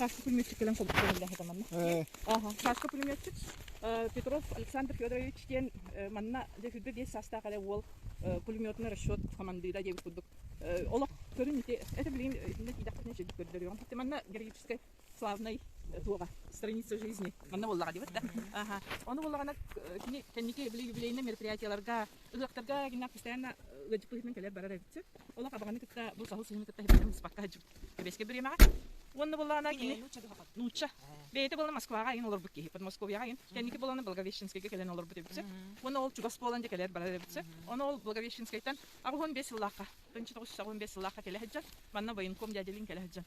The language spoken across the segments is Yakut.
Сашка пулеметчик кэлэн кылдьыһаллаһыта манна. Ага, Сашка пулеметчик Петров Александр Федорович диэн манна Дэфюдэ диэс састаах эле уол пулеметный расчет командира диэбит курдук олох көрүн ити это блин итиннэ тиийдэхпитинэ чэ көрдөрүөҕүм хотя манна героическай славнай туоҕа страница жизни манна буоллаҕа диэбит да аха ону буоллаҕына кини кэнники били юбилейнай мероприятияларга ыһыахтарга гинна постоянно ыадьыкпыһытынан кэлэр барар эбитсэ олох абаҕаны кытта бу саһыл сыһыны кытта хибилэһим быспакка хаджым кэбэскэ бириэмэҕэ уонна буоллаҕына кини нуучча бэйэтэ буолла москваҕа айын олорбут киһи подмосковьяҕа айын кэнники буоллаҕына благовещенскайга кэлэн олорбут эбитсэ уонна ол чугас буолан дьэ кэлэр барар эбитсэ ону ол благовещенскайтан Аҕыс уон биэс сыллаахха, тынчы тоҕус сүүс аҕыс уон биэс сыллаахха кэлэ сылдьан, манна военком дядя Лин кэлэ сылдьан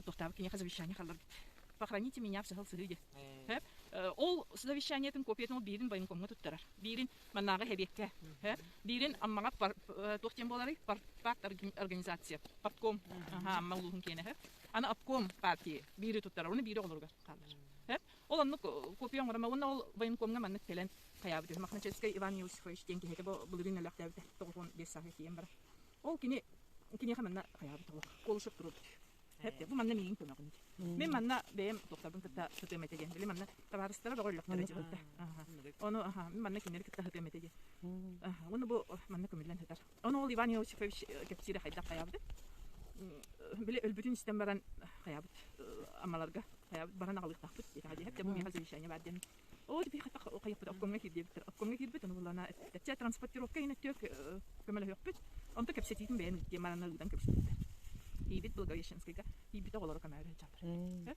тустаабыт киниэхэ завещание халларбыт. Похороните меня в сыһыл сыһыы диэн. Ол завещаниетын копиятын ол биирин военкомҥа туттарар. Биирин маннааҕы эбиэккэ. Биирин Аммаҕа туох диэн буоларый? Парт организация. Партком. Амма улууһун киэнэһэ. Аны обком партии биири туттарар. Оны биири оҕолоругар хаалар. Ол оннук копия оҥорон уонна ол военкомҥа маннык кэлэн хайаабыт үһү. Мохначевскай Иван Иосифович диэн киһитэ бу былырыын өлөөхтөөбүтэ тоҕус уон биэс сааһыгар тиийэн баран. Ол кини киниэхэ манна хайаабыт уһук. Колышев туруорбут. Эт, бу манна миигин көмөҕүн диир. Мин манна бэйэм топтарбын кытта сытыам этэ диэн. Били манна табаарыстара бөҕө өллөхтөрө дьиһилтэ. Ону аха, мин манна кинилэри кытта сытыам этэ диэн. Уонна бу манна көмүллэн сытар Ону ол Иван Иосифович э, кэпсиирэ хайдах хайаабыт били өлбүтүн истэн баран хайаабыт амаларга хайаабыт баран аҕалыахтаахпыт диэтэҕэ диэхэр да мумиаха завещание баар диэн ол дьипи хайаппыт обкомҥа киирдиэбиттэр обкомҥа киирбит ону булана эттэччи транспортировка инэттиök көмөлөһүөхпүт онто кэпсэтиитин бэйэн диэн маранна ыытан кэбиспиттэр тиийбит благовещенскайга тиийбит оҕолоро көмөлөһө сылдьаллар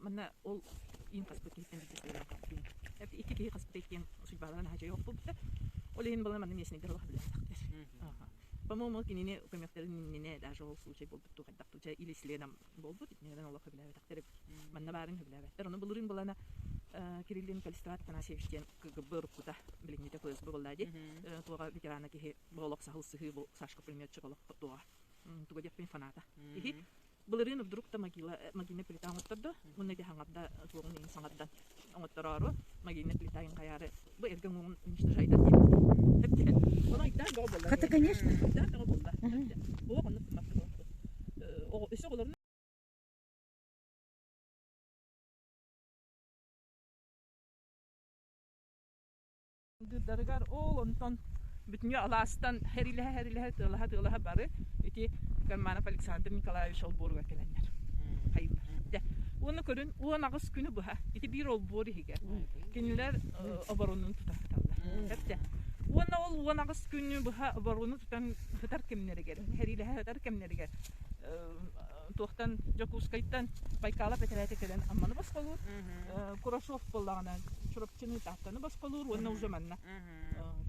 Манна ол иин хаспыт киһиттэн биирдэ сыыйанан хаалбытын икки киһи хаспыта иккиэн судьбаларынан аһаачай охпуппут. Ол иһин балар манна местнайдар олох билэхтахтар. По-моему, кинини көмөхтөрүн иннинэ даже ол случай буолбут ту хайдах туча или исленам болбут итинегеден олох хөбүлээбэтэхтэр манна баарын хөбүлээбэттэр ону былырын балана Кириллин Калистрат Танасевич диэн кгб руккута билиҥҥите ФСБ боллади туоҕа ветерана киһи олох саһыл сыһыы бу Сашка пулеметчик олох туоҕа туга диэппин фаната иһи Былырыын вдруг то могила, могильнай плита оҥоттордо. Уонна ити хаҥарда суоҕун иһин саҥардан оҥоттороору могильнай плита иһин хайаары бу эргэ уҥуоҕун уничтожайда диэбит. Тэтте. Оно айтаан бөҕө буолла. Хата, конечно. Айтаан бөҕө буолла. Тэтте. Оҕо оннук гыммакка буолбут. Оҕо өссө оҕолорун Дыдарыгар ол онтон бүтүнү алаастан хэрилэһэ-хэрилэһэ тыалаһа-тыалаһа бары ити Карманов Александр Николаевич олбуоругар кэлэннэр хайыылар. Дэ уону көрүн уон аҕыс күнү быһа ити биир олбуор иһигэр кинилэр оборонун тута сыталлар. Кэртэ. Уонна ол уон аҕыс күнү быһа оборону тутан сытар кэмнэригэр, хэрилэһэ сытар кэмнэригэр туохтан Дьокуускайтан Байкалов этэрээтэ кэлэн Амманы босхолуур, Курашов буоллаҕына Чурапчыны, Тааттаны босхолуур уонна уже манна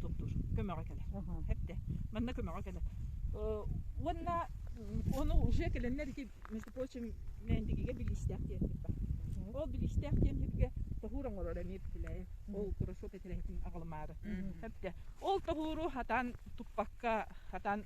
туппур. Көмөҕө кэлэр. Эрдэ. Манна көмөҕө кэлэр. Уонна ону уже кэлэннэр ити, между прочим, Мээндигигэ билиистээх тиэмпит бар. Ол билиистээх тиэмпитигэ тоһуур оҥорор эмиэ Путилаев. Ол Курашов этэрээтин аҕалымаары. Эрдэ. Ол тоһууру хатан туппакка, хатан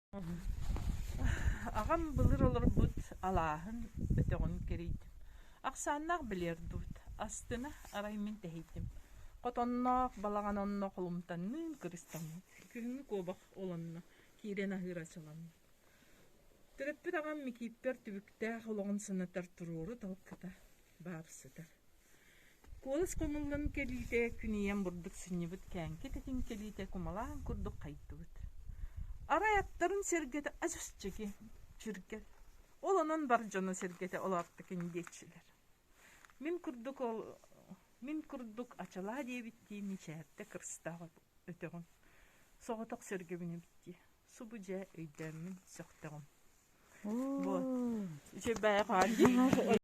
Аҕам былыр олорбут алааһын бөтөҕүн кэрийдим. Ахсааннаах билиэр дуут, астына арай мин тэһийдим. Хотонноох балаҕан онно холумтанныын кырыстаммыт. Күһүҥҥү куобах олонно, киирэн аһыыр-аччыланна. Төрөппүт аҕам Микииппэр түбүктээх олоҕун санатар туруору талкыта баар сытар. Куолас хоҥуллан кэлиитэ күнүйэн бурдук сынньыбыт кээҥки тэтим кэлиитэ кумалаан курдук хайдыбыт. Арай аттарын сэргэтэ ас ысчыги чиргэл. Ол онон бар дьоно сэргэтэ олааттыкын диэччилэр. Мин курдук ол мин курдук ачалаа диэбиттии мичээрдэ кырстаабыт өтөҕүм. Соҕотох сөргөбүнүбүттии. Субу дьэ өйдөөммүн сөхтөҕүм. Бо. Үчүгэйҕэ